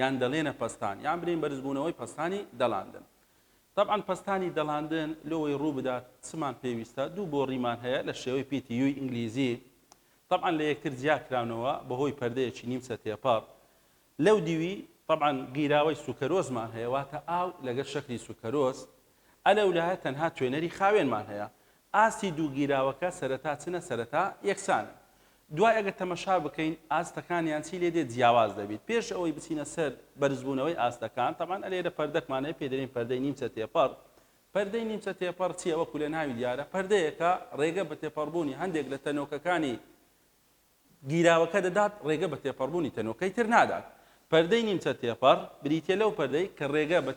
یان دەلێنە پەستان یان بلێین بەرزبوونەوەی پەستانی دەلاندن تەبعەن پەستانی دەلاندن لۆوەی روو بدات چمان پێویستە دوو بۆڕیمان هەیە لە شێوەی پیتی یوی ئینگلیزی تەبعەن لە یەکتر جیا کراونەوە بە هۆی پەردەیەکی نیمچە تێپەڕ لەو دیوی تەبعەن گیراوەی سوکەرۆسمان هەیە واتە ئاو لەگەر شەکری سوکەرۆس ئەلەولایە تەنها توێنەری خاوێنمان هەیە ئاستی دوو گیراوەکە سەرەتا چنە سەرەتا یەکسانن دوای ئەگەر تەمەشا بکەین ئاستەکانیان چی لێدێت جیاواز دەبیت پێش ئەوەی بچینە سەر بەرزبوونەوەی ئاستەکان تەبان ئەلێرە پەردەکمان هەیە پێ دەرین پەردەی نیمچە تێپەڕ پەردەی نیمچە تێپەڕ چیە وەکو لە ناوی دیارە پەردەیەکە ڕێگە بە تێپەڕبوونی هەندێک لە تەنۆکەکانی گیراوەکە دەدات، ڕێگە بە تێپەڕبوونی تەنۆکەی تر نادات. پەردەی نیمچە تێپەڕ بریتییە لەو پەردەی کە ڕێگە بە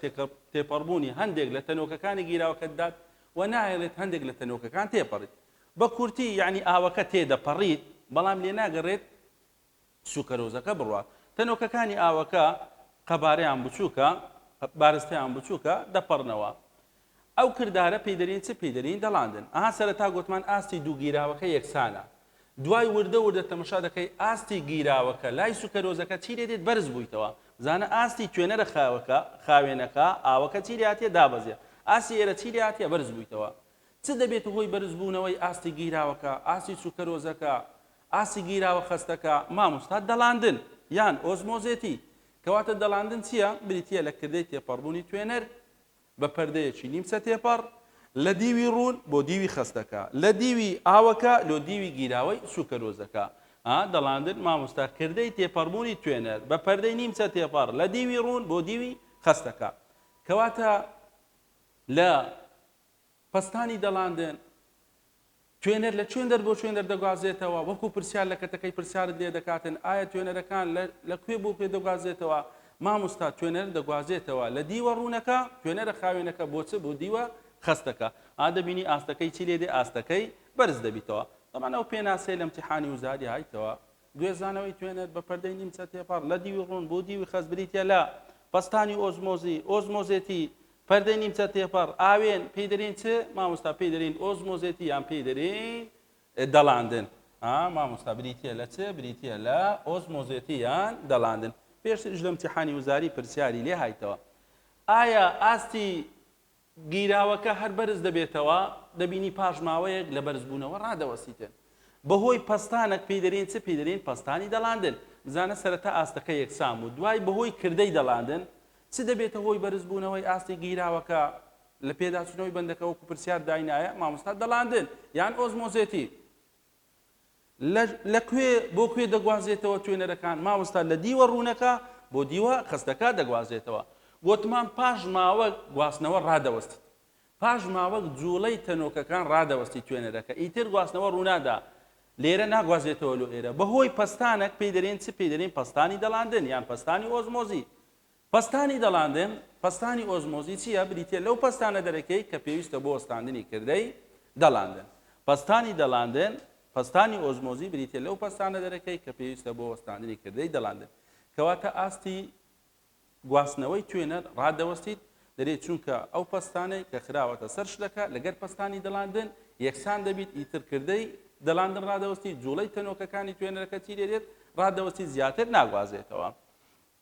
تێپەڕبوونی هەندێک لە تەنۆکەکانی گیراوەکە دەدات و ناهێڵێت هەندێک لە تەنۆکەکان تێپەڕیت. بە کورتی یانی ئاوەکە تێدەپەڕیت بەڵام لێناگەڕێت سوکەرۆزەکە بڕوات. تەنۆکەکانی ئاوەکە قەبارەیان بچووکە، بارستەیان بچووکە، دەپەڕنەوە. ئەو کردارە پێی دەرین چ پێی دەرین دەلاندن ئەها سەرەتا گۆتمان ئاستی دوو گیراوەکە یەکسانە دوای وردە وردە تەمەشا دەکەی ئاستی گیراوەکە لای سوکەرۆزەکە چی لێ دێت بەرز بویتەوە بزانە ئاستی توێنەرە خاوەکە خاوێنەکە ئاوەکە چی لێ هاتیە دابەزێ ئاستی ئێرە چی لێ هاتیە بەرز بویتەوە چ دەبێتە هۆی بەرز بوونەوەی ئاستی گیراوەکە ئاستی سوکەرۆزەکە ئاستی گیراوە خەستەکە مامۆستا دەلاندن یان ئۆزمۆزێتی کەواتە دەلاندن چیە بریتیە لە کردەی تێپەڕبوونی توێنەر بە پەردەیەکی نیمچە تێپەڕ لە دیوی ڕوون بۆ دیوی خەستەکە، لە دیوی ئاوەکە لۆ دیوی گیراوەی سوکەرۆزەکە. ئا دەڵاندن مامۆستا کردەی تێپەڕبوونی توێنەر بە پەردەی نیمچە تێپەڕ لە دیوی ڕوون بۆ دیوی خەستەکە کەواتە لە پەستانی دەلاندن، توێنەر لە چوێندەر بۆ چوێندەر دەگوازێتەوە، وەکو پرسیار لە کەتەکەی پرسیارت لێ دەکاتن ئایا توێنەرەکان لە لە کوێ بۆ کوێ دەگوازێتەوە؟ مامۆستا توێنەر دەگوازێتەوە لە دیوە ڕوونەکە، توێنەرە خاوێنەکە بۆ چ بۆ دیوە خەستەکە، ئا دەبینی ئاستەکەی چی لێ دێ ئاستەکەی بەرز دەبیتەوە، تەبعەن ئەو پێناسەیە لە ئیمتیحانی وزاری هایتەوە گوێزانەوەی توێنەر بە پەردەی نیمچە تێپەڕ لە دیوی ڕوون بۆ دیوی خەست بریتییە لە، پەستانی ئۆزمۆزی، ئۆزمۆزێتی، پەردەی نیمچە تێپەڕ، ئاوێن، پێی دەرێین چ؟ مامۆستا پێی دەرێین ئۆزمۆزێتی یان پێی دەرێین دەڵاندن. ها مامۆستا بریتییە لە چ؟ بریتییە لە ئۆزمۆزێتی یان دەڵاندن. پێشتریش لە امتحانی وزاری پرسیاری لێ هایتەوە. ئایا ئاستی گیراوەکە هەر بەرز دەبێتەوە، دەبینی پاش ماوەیەک لە بەرزبوونەوە ڕادەوەسیتن. بەهۆی پەستانەک پێی دەرێن چ پێی دەرێن پەستانی دەلاندن. بزانە سەرەتا ئاستەکە یەکسان بوو دوای بەهۆی کردەی دەلاندن چ دەبێتە هۆی بەرزبوونەوەی ئاستی گیراوەکە؟ لە پێداچوونەوەی بەندەکە وەکو پرسیار داینایە مامۆستا دەلاندن یان ئۆزمۆزێتی؟ لە لە کوێ بۆ کوێ دەگوازێتەوە توێنەرەکان مامۆستا لە دیوە ڕوونەکە بۆ دیوە خستەکە دەگوازێتەوە گوتمان پاش ماوەک گواستنەوە ڕادەوەستی پاش ماوەک جوڵەی تەنۆکەکان ڕادەوەستی توێنەرەکە ئیتر گواستنەوە ڕوونادا لێرە ناگوازێتەوە لۆ ئێرە بەهۆی پەستانەک پێی دەرێن چ پێی دەرین پەستانی دەڵاندن یان پەستانی ئۆزمۆزی پەستانی دەڵاندن، پەستانی ئۆزمۆزی چییە؟ بریتییە لەو پەستانە دەرەکیی کە پێویستە بۆ وەستاندنی کردەی دەڵاندن. پەستانی دەڵاندن، پەستانی ئۆزمۆزی بریتییە لەو پەستانە دەرەکیی کە پێویستە بۆ وەستاندنی کردەی دەڵاندن. کەواتە ئاستی گواستنەوەی توێنەر ڕادەوەستیت دەرێ چونکە ئەو پەستانەی کە خراوەتە سەر شلەکە لەگەر پەستانی دەڵاندن یەکسان دەبیت ئیتر کردەی دەڵاندن ڕادەوەستی جوڵەی تەنۆکەکانی توێنەرەکە چی دێت ڕادەوەستی زیاتر ناگوازێتەوە.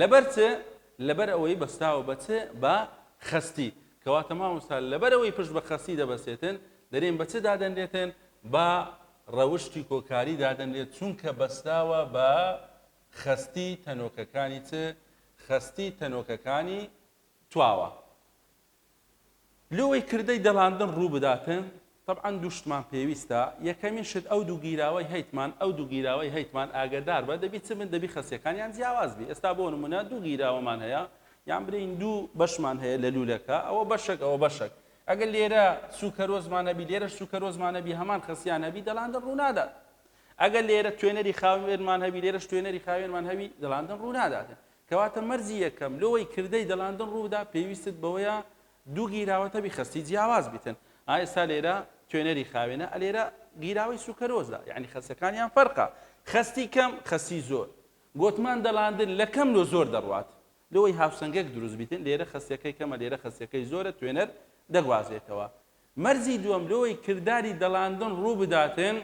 لەبەر چ؟ لەبەر ئەوەی بەستاوە بە چ؟ بە خەستی. کەواتە مامۆستا لەبەر ئەوەی پشت بە خەستی دەبەستێتن، دەرێن بە چ دادەنرێتن؟ بە ڕەوشتی کۆکاری دادەنرێت، چونکە بەستاوە بە خەستی تەنۆکەکانی چ؟ خەستی تەنۆکەکانی تواوە. لۆی کردەی دەلاندن ڕوو بداتن؟ تەبعەن دوو شتمان پێویستە، یەکەمین شت ئەو دوو گیراوەی هەیتمان، ئەو دوو گیراوەی هەیتمان ئاگەدار بە، دەبی چ بن؟ دەبی خەسیەکانیان جیاواز بی، ئێستا بۆ نموونە دوو گیراوەمان هەیە، یان برێین دوو بەشمان هەیە لە لوولەکە، ئەوە بەشەک ئەوە بەشەک، ئەگەر لێرە سووکەرۆسمان هەبی لێرەش سووکەرۆسمان هەبی هەمان خەسیان هەبی دەلاندن ڕوو نادات. ئەگەر لێرە توێنەری خاوێنمان هەبی لێرەش توێنەری خاوێنمان هەبی دەلاندن ڕوو ناداتن. کەواتە مەرجی یەکەم لۆەی کردەی دەلاندن ڕووبدا پێویستت بەوەیە دوو گیراوەتە بیخەستی جیاواز بیتن ئا ئێستا لێرە توێنەری خاوێنە ئە لێرە گیراوەی سوکەرۆزە یەعنی خەستەکانیان فەرقە خەستی کەم خەستی زۆر گۆتمان دەلاندن لە کەم لۆ زۆر دەڕوات لۆەی هاوسەنگەک دروست بیتن لێرە خەستەکەی کەمە لێرە خەستەکەی زۆرە توێنەر دەگوازێتەوە مەرجی دووەم لۆەی کرداری دەلاندن ڕووبداتن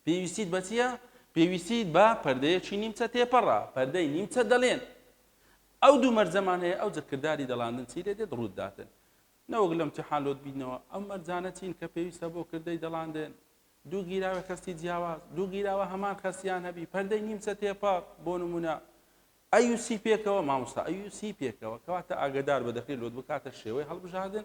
پێویستیت بە چییە؟ پێویستیت بە پەردەیەکی نیمچە تێپەڕە، پەردەی نیمچە دەلێن. ئەو دوو مەرجەمان هەیە، ئەوجە کرداری دەڵاندن چی لێ دێت ڕووت داتن. نەوەک لە ئیمتیحان لۆت بیتنەوە، ئەم مەرجانە چین کە پێویستە بۆ کردەی دەڵاندن؟ دوو گیراوی خەستی جیاواز، دوو گیراوە هەمان خەستیان هەبی، پەردەی نیمچە تێپەڕ، بۆ نموونە، ئەیوسی پێکەوە مامۆستا ئەیوسی پێکەوە کەواتە ئاگدار بە دەکرێت لۆت بکاتە شێوەی هەڵبژاردن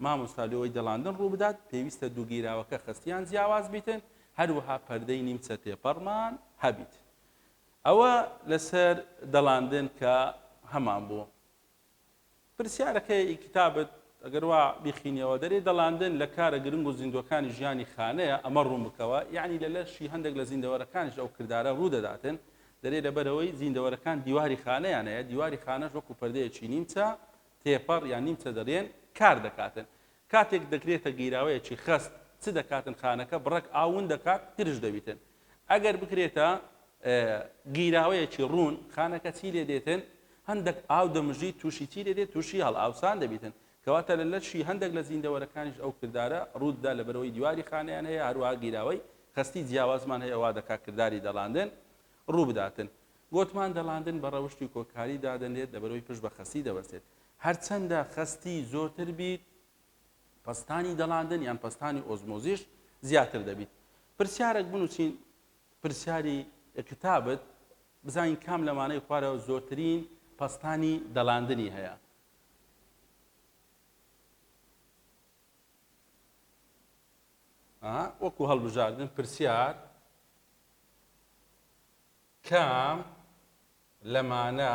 مامۆستا لۆی دەڵاندن ڕووبدات پێویستە دووگیراوەکە خستیان جیاواز بیتن هەروەها پەردەی نیمچە تێپەڕمان هەبیت ئەوە لەسەر دەڵاندن کە هەمان بوو پرسیارەکەی ئی کتابت ئەگەر وا بیخینیەوە دەرێ دەڵاندن لە کارە گرنگ و زیندووەکانی ژیانی خانەیە ئەمە ڕوون بکەوە یەعنی لە لەشی هەندێک لە زیندەوەرەکانیش ئەو کردارە ڕوو دەداتن دەرێ لەبەرئەوەی زیندەوەرەکان دیواری خانەیان هەیە دیواری خانەش وەکو پەردەیەکی نیمچە تێپەڕ یان نیمچە دەرێن کار دەکاتن کاتێک دەکرێتە گیراوەیەکی خەست چ دەکاتن خانەکە بڕەک ئاو ون دەکات گرژ دەبیتن ئەگەر بکرێتە گیراوەیەکی ڕوون خانەکە چی لێ دێتن هەندێک ئاو دەمژی تووشی چی لێ دێت تووشی هەڵ ئاوسان دەبیتن کەواتە لە لەشی هەندێک لە زیندەوەرەکانیش ئەو کردارە ڕووتدا لە بەرەوەی دیواری خانیان هەیە هەروە گیراوەی خستی جیاوازمان هەیە وا دەکات کردداری دەڵاندن ڕوو بداتن گوتمان دەڵاندن بە ڕەوشی کۆکاری دادەنێت لە بەرەوەی پشت بە خەسی دەبەسێت هەرچەندە خەستی زۆرتر بیت، پەستانی دەڵاندن یان پەستانی ئۆزمۆزیش زیاتر دەبیت. پرسیارەک بنووسین پرسیاری کتابت بزانین کام لەمانەی خوارە زۆرترین پەستانی دەڵاندنی هەیە. وەکو هەڵبژاردن پرسیار کام لەمانە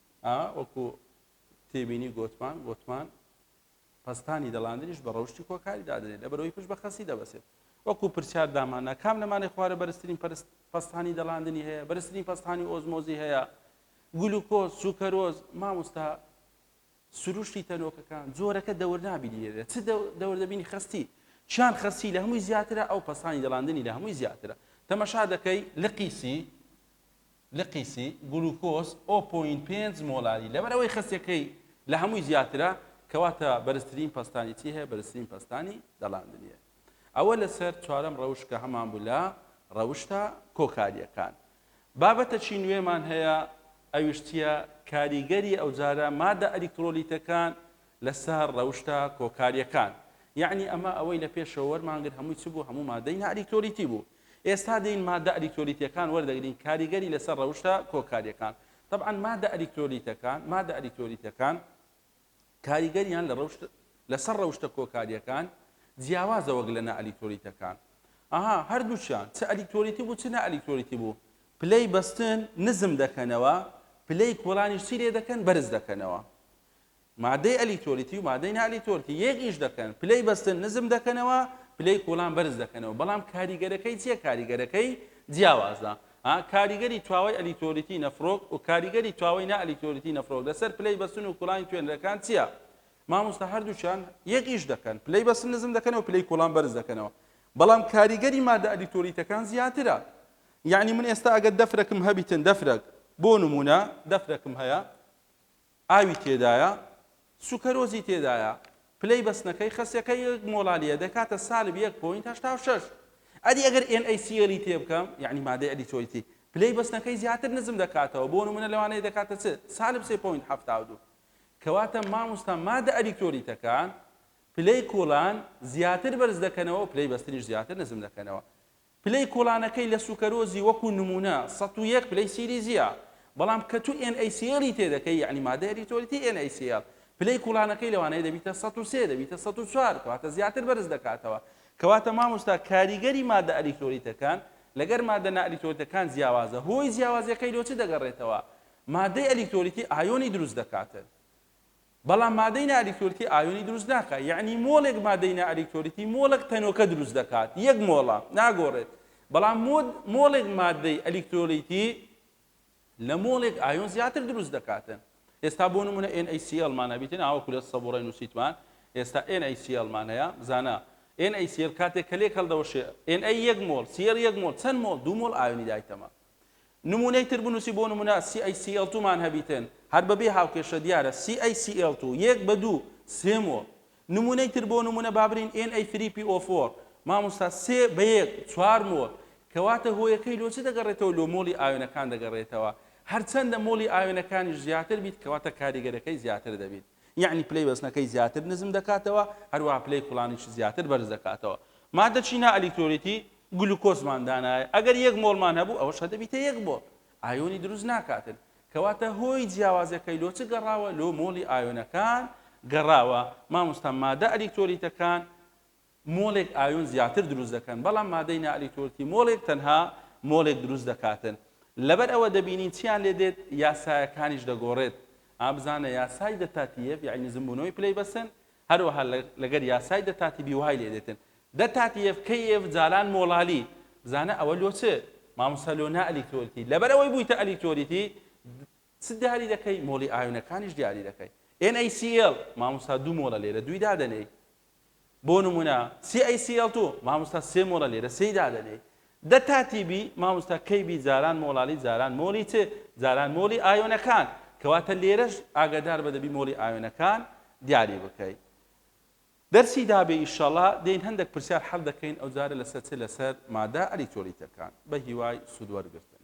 ئا وەکو تێبینی گۆتمان گۆتمان پەستانی دەڵاندنیش بە ڕەوشی کۆکاری دادنێت لە بەرەوەی پشت بە خەسی دەبەسێت وەکو پرسیار دامانا کام نەمانی خوارە بەرزترین پەستانی دەڵاندنی هەیە بەرزترین پەستانی ئۆزمۆزی هەیە گلوکۆز سوکەرۆز مامۆستا سروشتی تەنۆکەکان جۆرەکە دەورنابینی لێرە چ دەور دەبینی خستی چیان خستی لە هەمووی زیاترە ئەو پەسانی دەڵاندنی لە هەمووی زیاترە تەمەشا دەکەی لە قیسی لقیسی، گلوکۆز، ئۆ پۆینت پێنج مۆلاری، لەبەرئەوەی خەسیەکەی لە هەمووی زیاترە، کەواتە بەرزترین پەستانی چی هەیە؟ بەرزترین پەستانی دەلاندنی هەیە. ئەوە لەسەر چوارەم ڕەوشت کە هەمان بوو لە ڕەوشتە کۆکارییەکان. بابەتەکی نوێمان هەیە ئەویش چییە؟ کاریگەری ئەوجارە مادە ئەلیکترۆلیتەکان لەسەر ڕەوشتە کۆکارییەکان. یەعنی ئەمە ئەوەی لە پێشەوە وەرمانگرت هەمووی چ بوو؟ هەموو مادەی نائەلیکترۆلیتی بوو. ئێستا دێین ماددە ئەلیکترۆلیتییەکان وەردەگرین کاریگەری لەسەر ڕەوشتە کۆکارییەکان تەبعەن ماددە ئەلیکترۆلیتەکان ماددە ئەلیکترۆلیتەکان کاریگەریان لە ڕەوشت لەسەر ڕەوشتە کۆکارییەکان جیاوازە وەک لە نائەلیکترۆلیتەکان ئاها هەردووچیان چ ئەلیکترۆلیتی بوو چ نائەلیکترۆلیتی بوو پلەی بەستن نزم دەکەنەوە پلەی کۆڵانیش چی لێ دەکەن بەرز دەکەنەوە مادەی ئەلیتۆلیتی و مادەی نائەلیتۆلیتی یەک ئیش دەکەن پلەی بەستن نزم دەکەنەوە پلەی کوڵان بەرز دەکەنەوە بەڵام کاریگەرەکەی چیە کاریگەرەکەی جیاوازە کاریگەری تواوەی ئەلیتۆلیتی نەفرۆک و کاریگەری تواوەی نائەلیتۆلیتی نەفرۆک لەسەر پلەی بەستن و کوڵانی توێنەرەکان چییە مامۆستا هەردووچان یەک ئیش دەکەن پلەی بەستن نزم دەکەنەوە پلەی کوڵان بەرز دەکەنەوە بەڵام کاریگەری مادە ئەلیتۆلیتەکان زیاترە یعنی من ئێستا ئەگەر دەفرەکم هەبیتن دەفرەک بۆ نمونە دەفرەکم هەیە ئاوی تێدایە سوکەرۆزی تێدایە پلەی بەستنەکەی خەسیەکە یەک مۆڵالیە دەکاتە سالب یەک پۆینت هەشتا و شەش ئەدی ئەگەر ئێن ئەی سی ئێلی تێ بکەم یعنی مادەی ئەلیتۆیتی پلەی بەستنەکەی زیاتر نزم دەکاتەوە بۆ نمونە لەوانەیە دەکاتە چ سالب سێ پۆینت حەفتا و دوو کەواتە ماموستا مادە ئەلیکتۆریتەکان پلەی کۆڵان زیاتر بەرز دەکەنەوە پلەی بەستنیش زیاتر نزم دەکەنەوە پلەی کوڵانەکەی لە سوکەرۆزی وەکو نمونە سەد و یەک پلەی سیلیزیە بەڵام کە تو ئێن ئەی سی ئێڵی تێدەکەی یەعنی مادە ئەریتۆلیتی ئێن ئەی سی ئێڵ پلەی کوڵانەکەی لەوانەیە دەبیتە سەد و سێ دەبیتە سەد و چوار کەواتە زیاتر بەرز دەکاتەوە کەواتە مامۆستا کاریگەری مادە ئەلیکتۆلیتەکان لەگەر مادە نائەلیکتۆلیتەکان جیاوازە هۆی جیاوازیەکەی لۆ چ دەگەڕێتەوە مادەی ئەلیکتۆلیتی ئایۆنی دروست دەکاتن بەڵام مادەی نا ئەلیکترۆلیتی ئایۆنی دروست ناکات یەعنی مۆڵێک مادەی نا ئەلیکترۆلیتی مۆڵێک تەنۆکە دروست دەکات یەک مۆڵە ناگۆڕێت بەڵام مۆد مۆڵێک مادەی ئەلیکترۆلیتی لە مۆڵێک ئایۆن زیاتر دروست دەکاتن ئێستا بۆ نمونە NaCl مان هەبیتن ئاوەکو لە سەبوڕای نووسیتمان ئێستا NaCl مان هەیە بزانە NaCl کاتێک کە لێک هەڵدەوەشێ Na یەک مۆڵ Cl یەک مۆڵ چەند مۆڵ دوو مۆڵ ئایۆنی دایتەمە نموونەی تر بنووسی بۆ نموونە CaCl2 مان هەبیتن هەر بە بێ هاوکێشە دیارە CaCl2 یەک بە دوو سێ مۆڵ نموونەی تر بۆ نموونە با برین Na3PO4 مامۆستا سێ بە یەک چوار مۆڵ کەواتە هۆیەکەی لۆ چ دەگەڕێتەوە لۆ مۆڵی ئاوێنەکان دەگەڕێتەوە هەرچەندە مۆڵی ئاوێنەکانیش زیاتر بیت کەواتە کاریگەرەکەی زیاتر دەبیت. یەعنی پلەی وەزنەکەی زیاتر نزم دەکاتەوە، هەروەها پلەی کوڵانیش زیاتر بەرز دەکاتەوە. ماددە چینە ئەلیکترۆلیتی گلوکۆزمان دانایە، ئەگەر یەک مۆڵمان هەبوو ئەوەش هەدەبیتە یەک مۆڵ، ئایۆنی دروست ناکاتن، کەواتە هۆی جیاوازەکەی لۆ چ گەڕاوە؟ لۆ مۆڵی ئایۆنەکان گەڕاوە. مامۆستا مادە ئەلیکترۆلیتەکان مۆڵێک ئایۆن زیاتر دروست دەکەن، بەڵام مادەی نائەلیکترۆلیتی مۆڵێک تەنها مۆڵێک دروست دەکاتن. لەبەر ئەوە دەبینین چییان لێ دێت؟ یاسایەکانیش دەگۆڕێت. ئا بزانە یاسای دەتاتییەڤ یەعنی نزمبوونەوەی پلەی بەسن، هەروەها لەگەر یاسای دەتاتیبی وای لێ دێتن. دەتاتییەڤ کەییەڤ جاران مۆڵالی. بزانە ئەوە لۆ چ؟ مامۆستا لۆ نائەلیکترۆلیتی. لەبەر ئەوەی بوویتە ئەلیکترۆلیتی، چ دیاری دەکەی؟ مۆڵی ئایۆنەکانیش دیاری دەکەی. NaCl، مامۆستا دوو مۆڵە لێرە دووی دادەنێی. بۆ نمونە سی ئەی سی ئێڵ توو مامۆستا سێ مۆڵە لێرە سێی دادەنێی دە تا تی بی مامۆستا کەی بی جاران مۆڵالی جاران مۆڵی چ جاران مۆڵی ئایۆنەکان کەواتە لێرەش ئاگادار بە دەبی مۆڵی ئایۆنەکان دیاری بکەی دەرسی دابێ ئیشەڵا دێین هەندێک پرسیار حەل دەکەین ئەو جارە لەسەر چ لەسەر مادە ئەلیکترۆلیتەکان بە هیوای سوود وەرگرتن